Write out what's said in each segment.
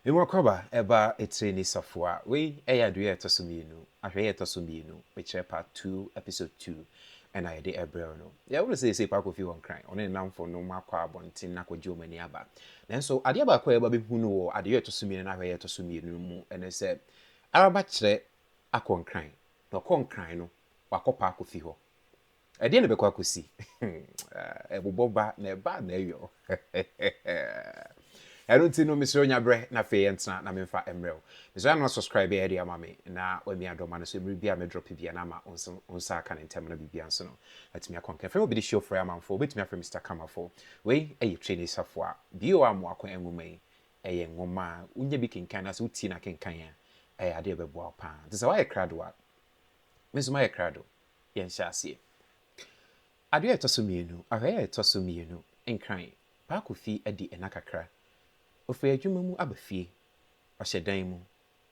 Me Mɔkrɔba ba Etirini Safua, Wei yɛ Adwee a ɛtɔ so mmienu, Ahwɛyie a ɛtɔ so mmienu, Mekyerɛ Part Two, Episode Two, na yɛde rebrɛ wo no. Yɛawo no seesei kɔ akɔfi hɔ Nkran. Ɔne ne nnamfonom akɔ abɔnten akɔgye wɔn ani aba. Nanso adeɛ baako a yɛba bɛhunu wɔ Adeyɔ a ɛtɔ so mmienu ne Ahwɛyie a ɛtɔ so mmienu no mu ne sɛ Araba kyerɛ akɔ Nkran, na ɔkɔ Nkran no, wakɔpa akɔfi hɔ. Ɛdeɛn na ɛbɛkɔ akɔsi? Ɛbobɔ ba na ɛba a na ɛyɔ. Ɛno nti no mesrɛ nya berɛ na afei yɛntena na memfa mmerɛ wo. Mesrɛ ano asubscribe ɛde ama me na wami adɔma no so mmerɛ bi a me drop bi a na ama wo nsa aka no ntɛm na biribia nso no atumi akɔ nkɛn. Frɛ me Obidi Show frɛ amanfoɔ wobɛtumi afrɛ Mister Kamafo. Wei ɛyɛ Trenee Safoa bio a Mmoako Nwoma yi ɛyɛ nwoma a wonya bi kenkan anaasɛ wotie na kenkan a ɛyɛ adeɛ a ɛbɛboa wo paa. Te sɛ woayɛ krado a me nso mayɛ krado. yɛnhyɛ aseɛ. Adeɛ a ɛtɔ so mmienu, ahɔeɛ a ɛtɔ so mmienu Nkran baako fi adi nna kakra. Ɔfiri adwuma mu aba fie. Ɔhyɛ dan mu.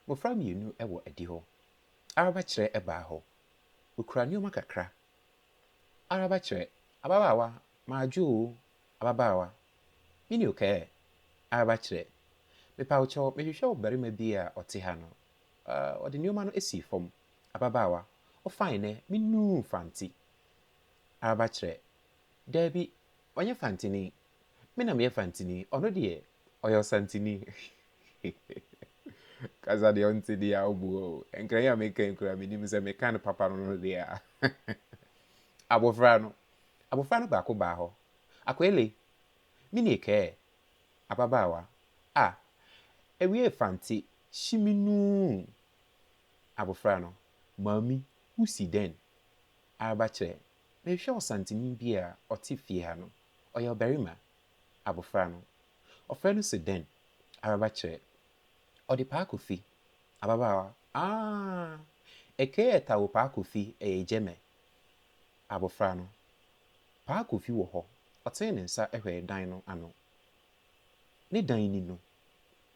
Mmɔfra mmienu wɔ adihɔ. Arabakyerɛ baa hɔ. Ɔkura nneɛma kakra. Arabakyerɛ, Ababaawa, madwo o, ababaawa. Mini okɛɛ? Arabakyerɛ, Mepa wo kyɛw, mehwehwɛ ɔbarima bi a ɔte ha no. Ɔde nneɛma no sii fam. Ababaawa, Wo fine nɛ, me nuu Fante. Araba kyerɛ, Daabi, ɔnyɛ Fanteni. Me na meyɛ Fanteni, ɔno deɛ, ɔyɛ Ɔsanteni. Kasa deɛ ɔnte deɛ a ɔbu hɔ o. Nkran yi a meka yi koraa menim sɛ meka no papa no no deɛ a. Abofra no, Abofra no baako baa hɔ. Akoele, Me nie kɛɛ. Ababaawa, Ah, ɛwiee Fante, hyi me nuu. Abofra no, Maame, wusi dɛn? Araba kyerɛ, Merehwɛ Ɔsanteni bi a ɔte fie ha no. Ɔyɛ ɔbarima. Abofra no, Ɔfrɛ no se dɛn? Araba kyerɛ, Ɔde Paa Kofi. Ababaawa, Aah! Ɛkɛɛ ɛta wo Paa Kofi, ɛyɛ gyɛmɛ. Abofra no, Paa Kofi wɔ hɔ. Ɔtee ne nsa hwɛɛ dan no ano. Ne dan ni no.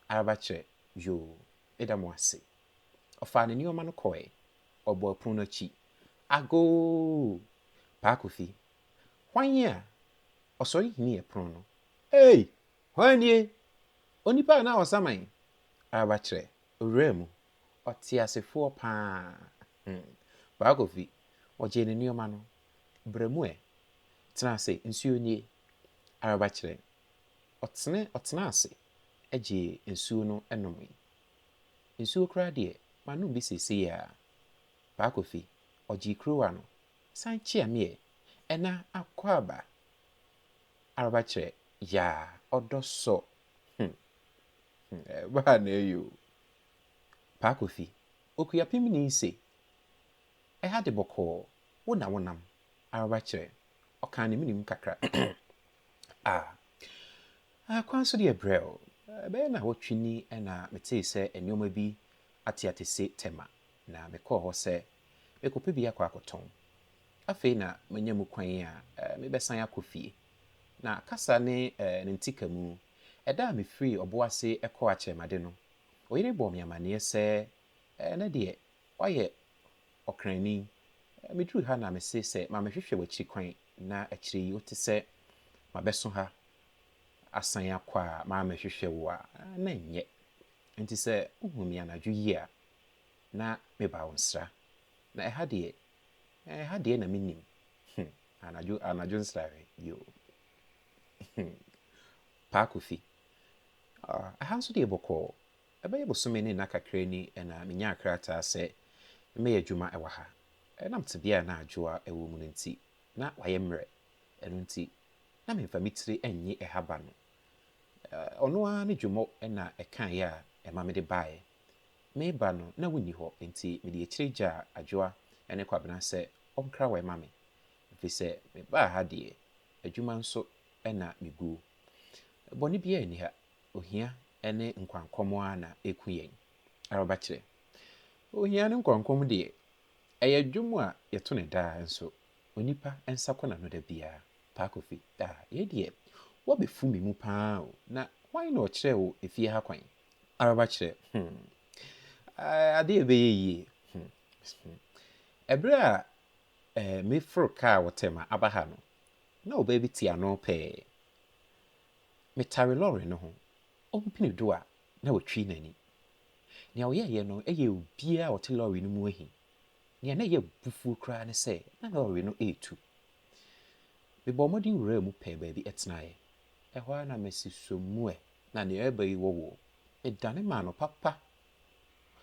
Araba kyerɛ, Yoo, meda mo ase. Ɔfaa ne nneɛma no kɔe. Ɔbɔɔ pon no akyi. Agoo! Paa Kofi, hwan ni a? Ɔsɔre himiiɛ pon no. Ei! Hwan nie? Onipa a na Ɔsaman reba kyerɛ owura mu ɔteasefoɔ pa ara. Hmm. Paa Kofi, ɔgyee ne nneɛma no. Bra mu ɛ. Tena ase, nsuo nie. Reba kyerɛ. Ɔtene, ɔtenaa ase gyee nsuo no nomee. Nsuo koraa deɛ, manom bi seesei ara. Paa Kofi, ɔgyee kuruwa no, san kyeaa me ɛ, ɛna akɔ aba araba kyerɛ yaa ɔdɔ sɔ hmm hmm ɛbaa na ɛyɛ o. Paa Kofi, Okuapem ni se, ɛha de bɔkɔɔ, wo na wonam araba kyerɛ, ɔkaa ne menem kakra. A, Kwan so deɛ brɛoo. Ɛbɛyɛ nnawɔtwe ni na metee sɛ nneɛma bi ateate se Tema, na mekɔɔ hɔ sɛ mekɔpɛ bi akɔ akɔtɔn. Afei na manya mu kwan a mebɛsan akɔ fie. Na kasa ne ne ntikamu, ɛda a mefirii ɔbo ase kɔɔ akyerɛmade no, oyere bɔɔ me amanneɛ sɛ ɛnnɛ deɛ wayɛ Ɔkranni, miduru ha na mese sɛ ma mehwehwɛ w'akyiri kwan, na akyiri yi wote sɛ mabɛso ha asan akɔ a mammɛhwehwɛ wo a, na ɛnyɛ. Enti sɛ wohuu me anadwo yi a, na mebaa wo nsra. Na ɛha deɛ, ɛha deɛ na mennim. Hum, anadwo, anadwo nsra he, yoo. Hum, Paa Kofi, ah, ɛha nso deɛ bɔkɔɔ. Ɛbɛyɛ bosome ne nna kakra ni na menyaa krataa sɛ memmɛyɛ adwuma wɔ ha. Ɛnam tebea a na Adwoa wɔ mu no nti, na wayɛ mmerɛ. Ɛno nti, na memfa me tiri nnye ɛha ba no. Ɔno ara ne Dwomo na ɛkaeɛ a ɛma mede baeɛ. Mereba no, na wonni hɔ, enti mede akyire gyaa Adwoa ne Kwabena sɛ wɔnkra wɔ ma me. Ɛfiri sɛ mebaa ha deɛ, adwuma nso na meguo. Bɔne biara nni ha. Ohia ne nkwankɔm ara na eku yɛn. Araba kyerɛ. Ohia ne nkwankɔm deɛ, ɛyɛ dwom a yɛto no daa nso onipa nsa kɔ n'ano da biara. Pa Kofi, Ah, yei deɛ, woabɛfu me mu pa ara o, na hwan na ɔkyerɛɛ wo efie ha kwan? Araba kyerɛ, Hmm, eh, adeɛ a ɛbɛyɛ yie, hmm, hmm, ɛberɛ a, eh, meforo kaa wɔ Tema aba ha no, na ɔbaa bi te ano pɛɛ. Metare lɔre no ho, ompene do a na watwi n'ani. Nea ɔyɛeɛ no yɛɛ obiara a ɔte lɔre no mu ahi. Nea na ɛyɛ abufuo koraa ne sɛ na lɔre no retu. Mebɔɔ mmɔden wuraa mu pɛɛ baabi tenaeɛ. Ɛhɔ ara na masi so mu ɛ, na nea ɛreba yi wɔ wo. Medane maa no papa.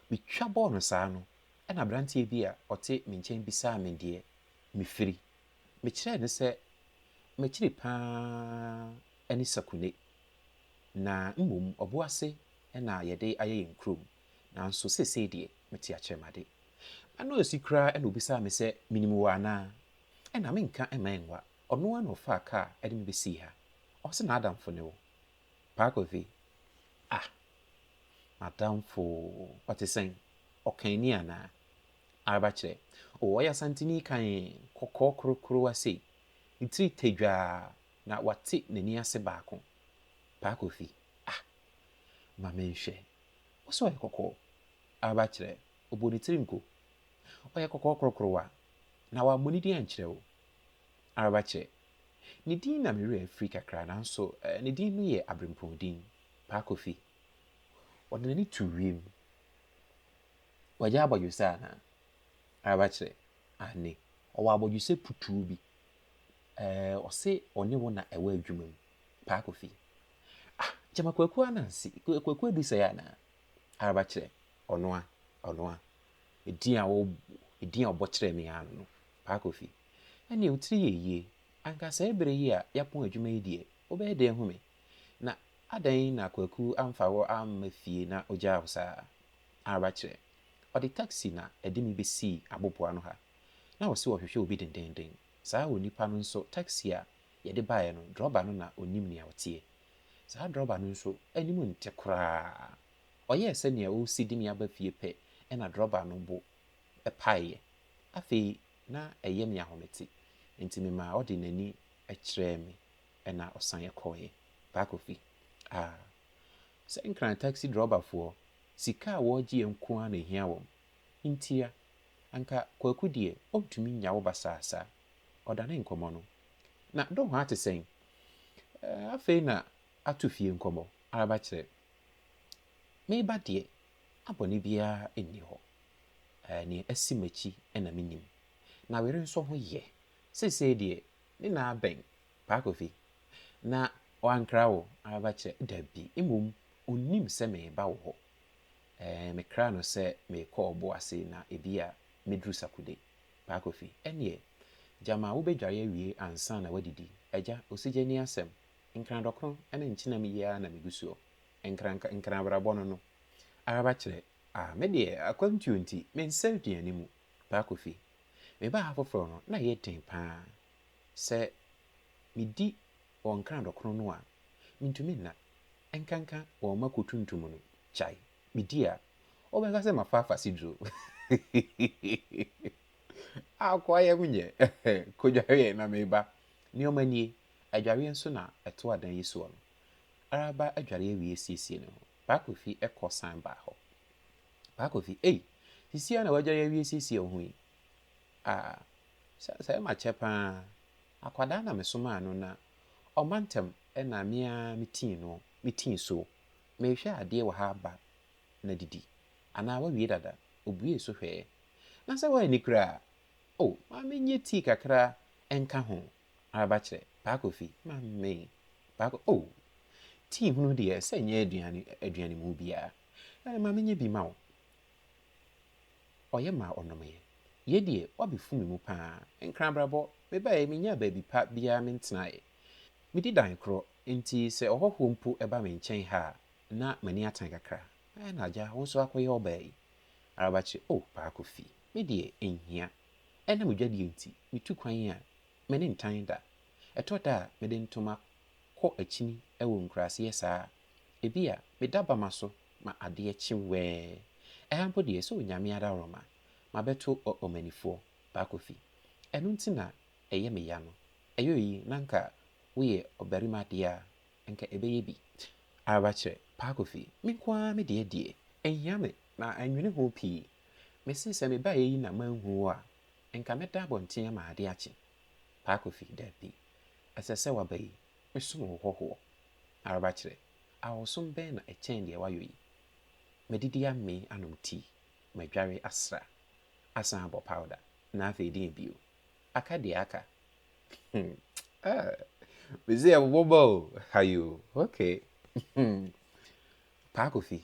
Metwa bɔɔ no saa no, ɛnna aberanteɛ bi a ɔte me nkyɛn bisaa me deɛ mefiri Mekyerɛɛ no sɛ m'akyiri pa ara ne Sakunney, na mmom Obuasi na yɛde ayɛ yɛn kurom, nanso seesei deɛ mete Akyerɛmade. M'ano ansi koraa na ɔbisaa me sɛ menim wo anaa. Ɛnna menka mma ɛnwa, ɔno ara na ɔfaa kaa de me bɛsii ha. Ɔse n'adamfo ne wo. Parkothy, Ah! M'adamfo? Ɔte sɛn? Ɔkanni anaa? Araba kyerɛ. O, ɔyɛ Asanteni kann, kɔkɔɔ korokorowa sei, ne tiri tadwaa, na wate n'ani ase baako. Paa Kofi, Ah! Ma menhwɛ. Wo se ɔyɛ kɔkɔɔ? Araba kyerɛ. Ɔbɔɔ ne tiri nko. Ɔyɛ kɔkɔɔ korokorowa, na wammɔ ne din ankyerɛ wo. Araba kyerɛ. Ne din na me werɛ afiri kakra, nanso ne din no yɛ aberempɔn din. Paa Kofi, ɔde n'ani too wiem. Wagya abɔdwesɛ anaa? Araba kyerɛ, Aane. Ɔwɔ abɔdwesɛ putoo bi. Ɛɛ, ɔse ɔne wo na ɛwɔ adwuma mu, paa Kofi. Ah, gyama Kwaku Ananse, Kwaku adu sɛɛ anaa? Araba kyerɛ, Ɔnoa, ɔnoa. Edin a wo, edin a ɔbɔ kyerɛɛ me ara no no, paa Kofi. Ɛneɛ wo tiri yɛ yie. Anka saa bere yi a yɛapɔn adwuma yi deɛ, wobɛyɛ dɛn ahu me? Na adɛn na Kwaku amfa wo amma fie na ogyaa wo saa? ara kyerɛ. Ɔde taksi na ɛde me besii abobow ano ha. Ná ɔse ɔhwehwɛ obi dendenden. Saa onipa no nso taksi a yɛde baeɛ no drɔba no na ɔnim nea ɔteɛ. Saa drɔba no nso anim nte koraa. Ɔyɛɛ sɛ nea ɔresi de me aba fie pɛ na drɔba no bo paeɛ. Afei na ɛyɛ me ahomete nti memaa ɔde n'ani kyerɛɛ me na ɔsan kɔeɛ. Paa Kofi, Ah, Sɛ Nkran taxi drɔbafoɔ, sika a wɔɔgyeɛ nko ara na ɛhia wɔn. Ntia, anka Kwaku deɛ ɔntumi nnya wo basaa saa. Ɔdane nkɔmmɔ no. Na Dohoa te sɛn? Ɛɛ, afei na ato fie nkɔmmɔ, araba kyerɛ. Meba deɛ, na bɔne biara nni hɔ. Ɛɛ, nea asi m'akyi na menim. Nawere nso ho yɛ. Seesei deɛ, Ne na abɛn, Paa Kofi. Na wankra wo aba kyerɛ? Dabi, mmom ɔnnim sɛ mereba wo hɔ. Ɛɛ, mekraa no sɛ merekɔ ɔbo ase na ebia mɛduru Sakude. Paa Kofi, Ɛnneɛ, gyama wobɛdware awie ansa na woadidi. Agya, Osigye ne asɛm. Nkran dɔkono ne nkyenam yi ara na megu soɔ. Nkran, nkran abrabɔ no no. Araba kyerɛ, Ah, me deɛ, akwantuo nti, mensɛ aduane mu. Baako fi. Mebaa ha foforɔ no, na ɛyɛ den pa ara. Sɛ medi wɔn nkrandɔ kron no a, mentumi nna, ɛnkanka wɔn mako tuntum no. Kyae, medi a, wobɛka sɛ mafa afasiduro. Akoa yam nyɛ, kɔdwareɛ na meba. Nneɛma nie, adwareɛ nso na ɛtoa dan yi soɔ no. Araba adware awie siesie ne ho. Baako fi kɔ san baa hɔ. Paakofi, Ei! Sisi ara na w'agya yi awie asiesie wo ho yi? Ah! Sɛ sɛ ɛma kyɛ pa ara. Akwadaa na mesomaa no na ɔmma ntɛm na me ara metii no, metii so. Merehwɛ adeɛ wɔ ha ba na didi. Anaa woawie dada? Ɔbuee so hwɛɛ. Na sɛ woanni koraa? Oh, ma menyɛ tii kakra nka ho ara ba kyerɛ. Paakofi, Ma me. Paako, Oh! Tii hunu deɛ, ɛsɛ nyɛ aduane aduane mu biara. Ɛɛ, ma menyɛ bi mma wo. Ɔyɛ maa ɔnomee. Yei deɛ, woabɛfu me mu pa ara. Nkrabrabɔ, mebaeɛ, menyaa baabi pa biara mentenaeɛ. Medi dan korɔ, enti sɛ ɔhɔhoɔ mpo ba me nkyɛn ha a, na m'ani atan kakra. Ɛɛ, na agya, wo nso akɔyɛ ɔbaa yi? Arabakyɛ, O, Paa Kofi, me deɛ, ɛnhia. Ɛnam adwadie nti, metu kwan a, me ne ntan da. Ɛtɔ da a, mede ntoma kɔ akyini wɔ nkuraseɛ saa a, ebia meda bama so ma adeɛ kye wɛɛ. Ɛha mpo deɛ sɛ Onyame adaworoma, mabɛto ɔ Ɔmanifoɔ, Baakofi. Ɛno nti na ɛyɛ me ya no. Ɛyɔ yi na nka woyɛ ɔbarima deɛ a, nka ɛbɛyɛ bi. Araba kyerɛ, Baakofi, me nko ara me deɛ deɛ, ɛnhia me na mannwene ho pii. Mese sɛ mebaeɛ yi na manhu wo a, nka mɛda abɔnten ama adeɛ akye. Baakofi, Dabi. Ɛsɛ sɛ waba yi som wo hɔhoɔ. Araba kyerɛ, Ahosom bɛn na ɛkyɛn deɛ woayɔ yi? Madidi amee anom tii, madware asra, asan abɔ pawda, na afei deɛn bio? Aka deɛ aka. Hmm, ah, mese yɛbobɔ ba o, hayoo, okay. Hmm, Paa Kofi,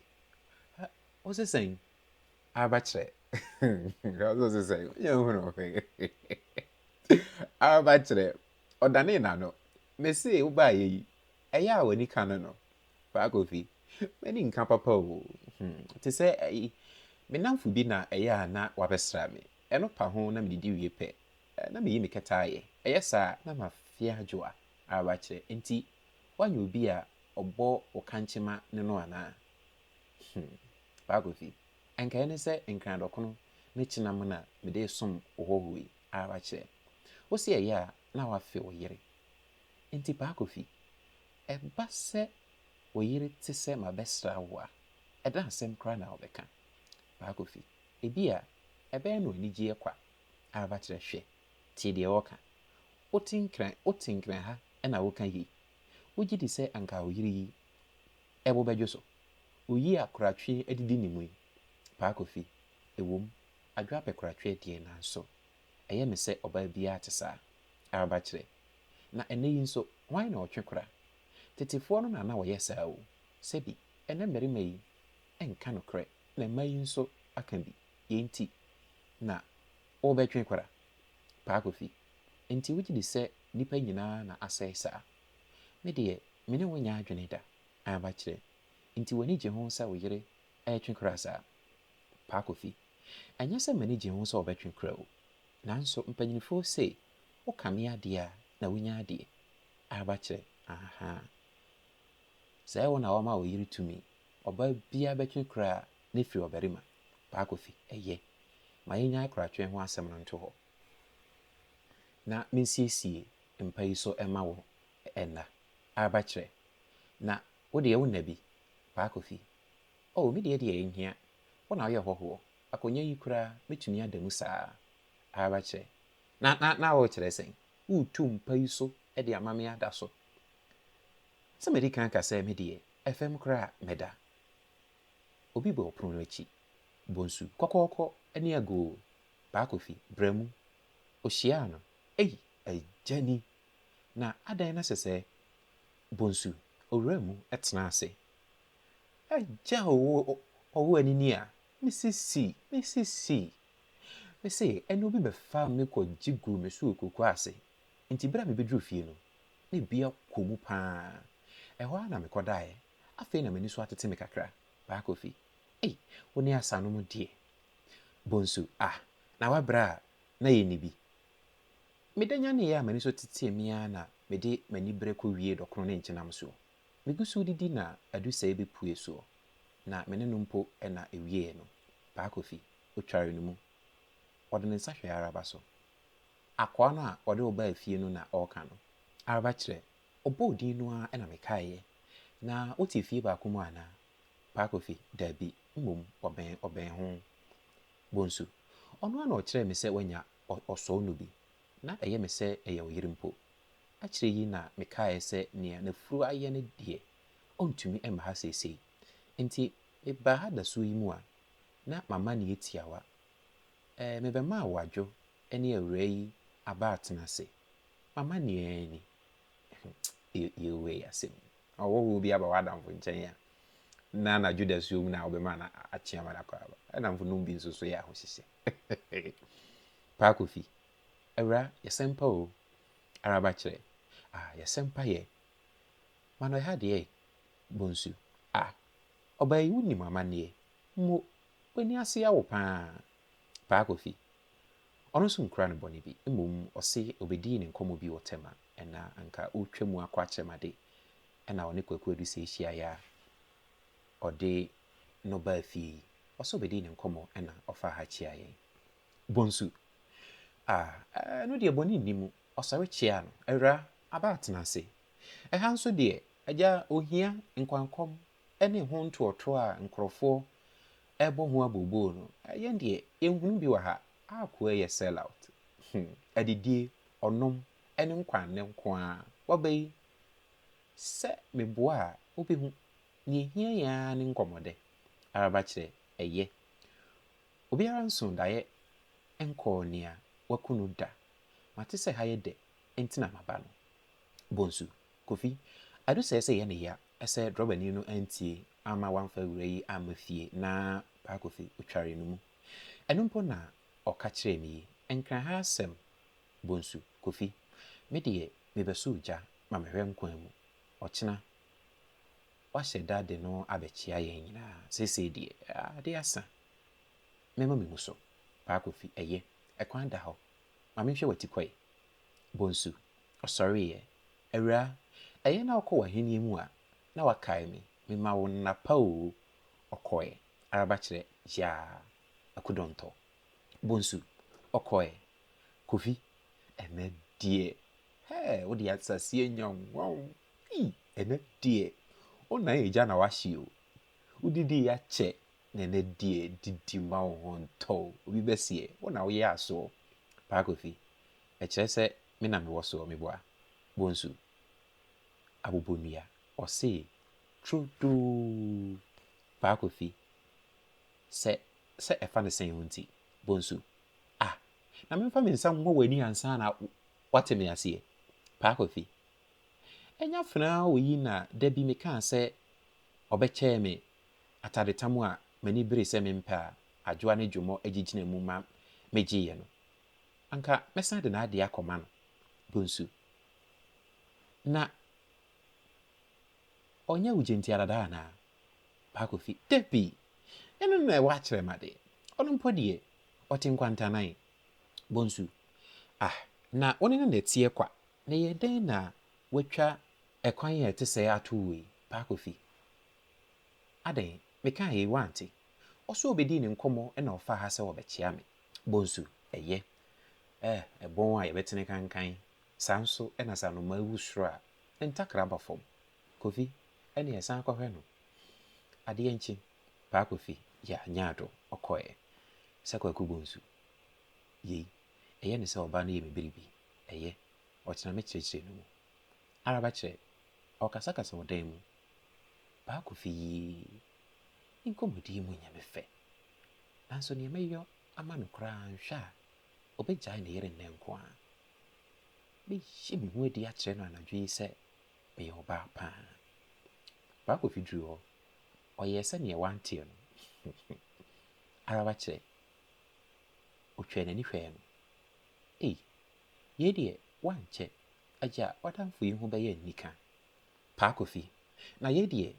ah, wose sɛn? Abɛkyerɛ. Ɔsɛ ɔsɛ sɛ yɛn ho no abɛkyerɛ. Ɔdanee n'ano. Mese wobaayɛ yi ɛyɛ a w'ani ka no no Paa Kofi m'ani nka papa o hmm, te sɛ ayi me namfo bi na ɛyɛ a na wabɛsra me ɛno pa ho na medidi wie pɛ na meyi me kɛtɛ ayɛ ɛyɛ saa na mafeɛ adwo a abakyerɛ nti woanyɛ obi a ɔbɔ wo kankyema ne no anaa Hmm. Bakofi, anka ɛne sɛ Nkran-Dɔkono ne Kyenam na mede resom wo hɔho yi ara kyerɛ. Wo se ɛyɛ a na woafe wo yere. Enti Bakofi, ɛba sɛ wo yere te sɛ mabɛsra wo a, ɛdɛn asɛm koraa na wobɛka? Bakofi, Ebia ɛbɛyɛ no anigyeɛ kwa ara kyerɛ. Hwɛ, tie deɛ ɔreka. Wote Nkran, wote Nkran ha na woka yei? Wogye di sɛ anka wo yere yi Ɛbo bɛdwo so. Oyi a koratwe adidi ne mu yi, Paa Kofi, ɛwom, adwoa pɛ koratwe deɛ nanso ɛyɛ me sɛ ɔbaa biara te saa. Araba kyerɛ. Na ɛnnɛ yi nso, hwan na ɔtwe kora? Tetefoɔ no na na wɔyɛ saa o. Sɛbi, ɛnnɛ mmarima yi nka nokorɛ na mmaa yi nso aka bi, yei nti na wobɛtwe kora? Paa Kofi, Enti wogye di sɛ nnipa nyinaa na asɛe saa? Me deɛ, me ne wo nyɛ adwene da, Aba kyerɛ. Nti w'ani gye ho sɛ wo yere retwe kora saa? Paa Kofi, Ɛnyɛ sɛ m'ani gye ho sɛ ɔbɛtwe kora o, nanso mpanyinfoɔ sei, wokame adeɛ a na wonya adeɛ. Aba kyerɛ, Ahaa. Sɛ ɛyɛ wo na wama wo yere tumi, ɔbaa biara bɛtwe kora a na ɛfiri ɔbarima? Paa Kofi, Ɛyɛ. Ma yɛnnyae koratwe ho asɛm no nto hɔ. Na mensiesie mpa yi so mma wo nna. Arba kyerɛ. Na wo deɛ wo nna bi, Paa Kofi. Oh, me deɛ deɛ ɛnhia, wo na woyɛ hɔhoɔ, akonnwa yi koraa mɛtumi ada mu saa. Arba kyerɛ. Na, na, na worekyerɛ sɛn? Woretu mpa yi so de ama me ada so? Sɛ madi kan ka sɛ me deɛ, ɛfam koraa mɛda. Obi bɔɔ pono no akyi, Bonsu, kɔkɔɔkɔ ne agoo Baako fi bra mu. Ohyiaa no. Ei, agya ni! Na adɛn na ɛsɛ sɛ bonsu owura mu tena ase? Agya o, ɔwo ani ni a, me sisi, me sisi! Mise ɛnna obi bɛfaa me kɔ gye guu me so okuku ase, enti bere a mibeduruu fie no, na ebi akɔ mu paa. Ɛhɔ ara na mekɔ daeɛ. Afei na m'ani so atete me kakra. Baako fi. Ei, wo ne Asanom deɛ, Bonsu, Ah, na woabrɛ a na yenni bi. Meda nyaneeɛ a m'ani so tetee me ara na mede m'aniberɛ kɔwiee dɔkono ne nkyenam soɔ. Megu so redidi na adusɛeɛ bɛpuee soɔ, na me ne no mpo na ɛwieeɛ no, Paa Kofi, ɔtwaree no mu. Ɔde ne nsa hwɛɛ Araba so. Akoa no a ɔde wo baa fie no na ɔreka no. Araba kyerɛ, ɔbɔɔ din no ara na mekaeeɛ. Na wote fie baako mu anaa? Paa Kofi, Dabi, mmom ɔbɛn ɔbɛn ho. Bonsu, Ɔno ara na ɔkyerɛɛ me sɛ wanya ɔ ɔsɔɔ no bi. Ná ɛyɛ me sɛ ɛyɛ ɔyere mpo. Akyire yi na mekaeɛ sɛ nea n'afuru ayɛ no deɛ, ɔntumi mma ha seesei. Enti mebaa ha dasuo yi mu a, na mama no yɛ tiawa. Ɛɛ, mebɛmaa wo adwo ne awuraa yi aba atena ase. M'amanneɛ ara ni. Hwɛ, yei wei yɛ asɛm. Ɔhɔhoɔ bi aba w'adamfo nkyɛn a, na anadwo dasuo mu na wobɛma no akye ama no akɔ aba. Adamfo nom bi nso so yɛ ahohyehyɛ. Paa Kofi, Awura, yɛsɛmpa o, ara ba kyerɛ. Ah, yɛsɛmpa yɛ. Ma no ɛha deɛ, Bonsu. Ah, ɔbaa yi wonim amanneɛ. Mo, w'ani ase awo paa. Paa Kofi, Ɔno nso nkura ne bɔne bi, mmom ɔse ɔbɛdii ne nkɔmmɔ bi wɔ Tema, ɛna anka ɔretwa mu akɔ akyerɛmade, ɛna ɔne Kwaku Adusei hyiaeɛ a ɔde no baa fie yi, ɔse ɔbɛdii ne nkɔmmɔ ɛna ɔfaa ha kyiaa yɛn. Bonsu, Ah, ɛno deɛ bɔne nni mu, ɔsɔre kyiaa no, Awuraa, aba atena ase. Ɛha nso deɛ, Agya, ɔhia, nkwankɔm, ne ho ntoɔtoɔ a nkorɔfoɔ rebɔ ho abooboo no, yɛn deɛ yɛnhunu bi wɔ ha. Akoa yɛ sell out. Hum. Adidie, ɔnom, ne nkwaannɛ nko ara. Waba yi, sɛ meboa a, wobɛhu. Nea ɛhia yɛn ara ne nkɔmmɔdɛ. Araba kyerɛ, ɛyɛ. Obiara nsoo daeɛ nkɔɔ nea waku no da. Mate sɛ ha yɛ dɛ, enti na maba no. Bonsu, Kofi, adu sɛɛ sɛ yɛn nne ya. Sɛ drɔbani no antie amma wɔamfa wura yi amma fie na Paakofi otwaree no mu. Ɛno mpo na ɔka kyerɛɛ me yi, Nkra ha asɛm, Bonsu, Kofi. Me deɛ, mebɛsoo gya ma mehwɛ nkwa mu. Ɔkyena, wɔahyɛ da de no abɛkyea yɛn nyinaa. Seesei deɛ, ade asa. Mɛma memu so. Paakofi, Ɛyɛ. Ɛkwan da hɔ. Ma menhwɛ w'atikwae. Bonsu, Ɔsɔreeɛ. Awuraa, ɛyɛ na wokɔ w'ahennie mu a, na woakae me. Mema wo nna pa oo. Ɔkɔeɛ. Araba kyerɛ, Yaa. Akudɔntɔ. Bonsu. Ɔkɔeɛ. Kofi, Ɛnnɛ deɛ, hɛɛ, wode asase anya wo nwa o. Ei, ɛnnɛ deɛ, wo nan agya na woahye o. Wodidiiɛ akyɛ, na ɛnnɛ deɛ, didi mma wo ho ntɔ o. Obi bɛseɛ, wo na woyɛ asoɔ. Paa Kofi, ɛkyerɛ sɛ me na mewɔ soɔ meboa, Bonsu, Abobonnua, ɔsee, Tro doo, Paa Kofi, sɛ sɛ ɛfa ne sɛn ho nti, Bonsu, Ah! Na memfa me nsa mmɔ w'ani ansa na woate me aseɛ, Paa Kofi, Ɛnyɛ afenaa wɔ yi na da bi mekaa sɛ ɔbɛkyɛɛ me atadetam a m'ani bere sɛ mempɛ a Adwoa ne Dwommɔ agyigyina mu ma megyeeɛ no, anka mɛsan de n'adeɛ akɔma no, Bonsu. Na ɔnyɛ wo gyentiara daa anaa? Paakofi, Dabi! Ɛno na ɛwɔ akyerɛ ma deɛ. Ɔno mpo deɛ, ɔte nkwantanan. Bonsu, Ah, na wo ne no na ɛteɛ kwa? Na ɛyɛɛ dɛn na woatwa ɛkwan a ɛte sɛɛ ato wo yi? Paakofi, Adɛn, mekaeɛ yi woante? Ɔso ɔbɛdii ne nkɔmmɔ na ɔfaa ha sɛ ɔbɛkyea me. Bonsu, Ɛyɛ. Eh, ɛbon a yɛbɛtene kankan. Saa nso na sɛ anomaa wu soro a, ne ntakra ba fam. Kofi, Ɛnneɛ ɛsan kɔhwɛ no. Adeɛ nkye, Paa Kofi, ya, nyaado, ɔkɔeɛ. Sɛ Kwaku Bonsu, Yei, ɛyɛ ne sɛ ɔbaa no yɛ me biribi. Ɛyɛ. Ɔtena me kyerɛkyerɛ no mu. Araba kyerɛ, Ɔrekasakasa wɔ dan mu, Baako fi yi, Nkɔmmɔdi yi mu nyɛ me fɛ, nanso nea mɛyɔ ama no koraa anhwɛ a, obegyae ne yere nnɛ nko ara. Mɛyi me ho adi akyerɛ no anadwo yi sɛ meyɛ ɔbaa pa ara. Baako fi duruu hɔ, ɔyɛɛ sɛ nea wanteɛ no ara wakyerɛ. Otwaa n'ani hwɛɛ no. Ei, yei deɛ, woankyɛ, agya w'adamfo yi ho bɛyɛ anika Paa Kofi, na yei deɛ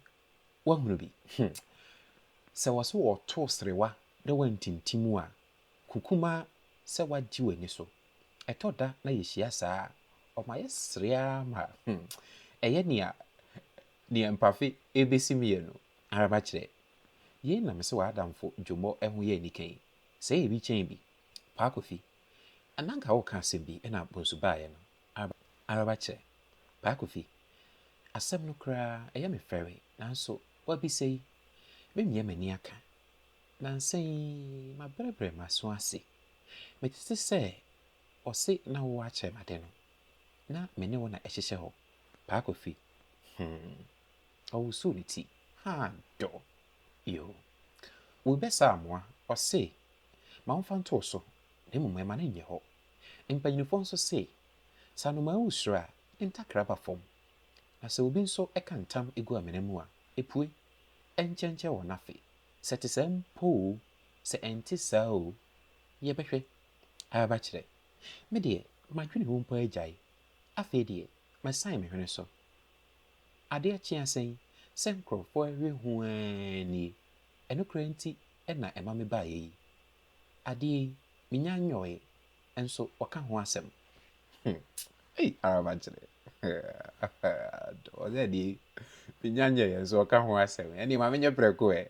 woahunu bi, hmm, sɛ wɔ se wɔto serewa na woantintim a, kukumaa sɛ woagye w'ani so. Ɛtɔ da na yɛhyia saa a, ɔma yɛsere ara ma, hmm, ɛyɛ nea nea mpafe rebɛsim yɛn no ara makyerɛ. Yei na mese w'adamfo dwommɔ ho yɛ anika yi, sɛ ɛyɛ bi kyɛn bi. Paa Kofi, na anka woreka asɛm bi na Bonsu baeɛ no. Araba, Araba kyerɛ. Paa Kofi, asɛm no koraa, ɛyɛ me fɛre, nanso w'abisa yi, memia m'ani aka. Nnansa yi, mabrɛbrɛ m'aso ase. Mete te sɛ ɔse na wowɔ akyerɛ m'ade no, na me ne wo na ɛhyehyɛ hɔ. Paa Kofi, hmm, ɔwosoo ne ti, haa dɔ. Yoo. Worebɛsa amoa, ɔse, ma ɔmfa nto wo so, na mmom ɛma no nyɛ hɔ, Mpanyimfo nso se, Sɛ anomaa wu soro a, ne ntakra ba fam, na sɛ obi nso ka ntam gu amena mu a, epue. Ɛnkyɛnkyɛn wɔn afe. Sɛ ɛte saa mpo oo, sɛ ɛnte saa oo, yɛbɛhwɛ. Aba kyerɛ. Me deɛ, m'adwene ho mpo agyae. Afei deɛ, masan me hwene so. Ade akye asa yi, sɛ nkurɔfo rewe ho ara nie. Ɛno koraa nti na ɛma mebaeɛ yi. adeɛ yi, mennya nyɔɔe nso wɔka ho asɛm. Hmm, ei, ara makyerɛ. Ɔsɛ adeɛ yi, mennya nyɔɔe nso wɔka ho asɛm. Ɛnneɛ ma menyɛ prɛko ɛ.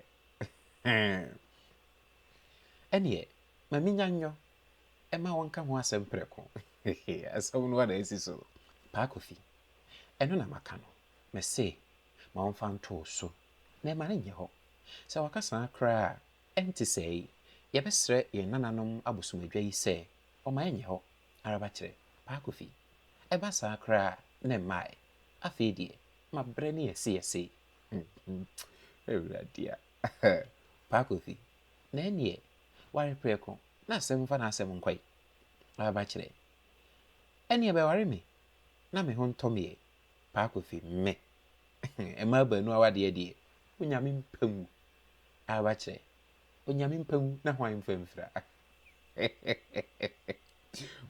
Ɛnneɛ, ma mennya nyɔ ɛma wɔnka ho asɛm prɛko. Asɛm no ana asi so. Paa Kofi, ɛno na maka no. Mese, ma wɔmfa nto wo so, na ɛma no nyɛ hɔ. Sɛ wɔka saa koraa a, Ɛnte saa yi, yɛbɛsrɛ yɛn nananom abosomadwa yi sɛ wɔmma ɛnyɛ hɔ ara ba kyerɛ Paa Kofi. Ɛba saa koraa a, na ɛmma ɛ. Afei deɛ, ma berɛ ne yɛse yɛse. Awurade a! Paa Kofi, na ɛnneɛ ware prɛko na asɛm mfa n'asɛm nkɔ yi ara ba kyerɛ. Ɛnneɛ bɛware me na me ho ntɔ me ɛ. Paa Kofi, Me! Mmaa baanu awadeɛ deɛ, Onyame mpa ngu. Aaba kyerɛ, Onyame mpa ngu na hwan mfa mfira?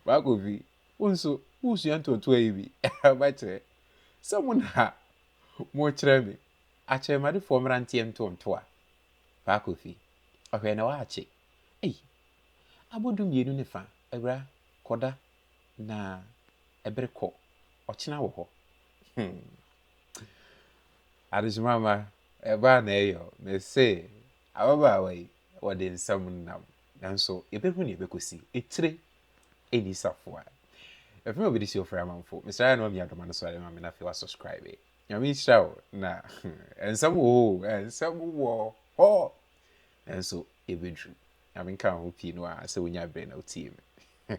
Baa Kofi, wo nso woresua ntoatoa yi bi? Aaba kyerɛ, Sɛ mo na morekyerɛ me, akyerɛmadefoɔ mmra nteɛ ntoantoa. Baa Kofi, Ɔhwɛ na woakye. Ei! Abɔ du mmienu ne fa, awura, kɔda na ɛbere kɔ, ɔkyena wɔ hɔ. Hmm. Adekyema mma, ɛba a na ɛyɛ o. Mese ababaawa yi, wɔde nsɛm nam. Nanso yɛbɛhu nea ɛbɛkɔsi. Etire ɛnni safoa. Ɛfiri ma bɛde si ɔfrɛ amanfo. Mesrɛ ayɛ na wamia dɔma no so ayɛ ma me na afei wasubscribe. Nyame nhyira wo na nsɛm wɔ hɔ o, nsɛm wɔ hɔ. Nanso yɛbɛduru. Nyame nka wo ho pii no a sɛ wonya berɛ na wotie me.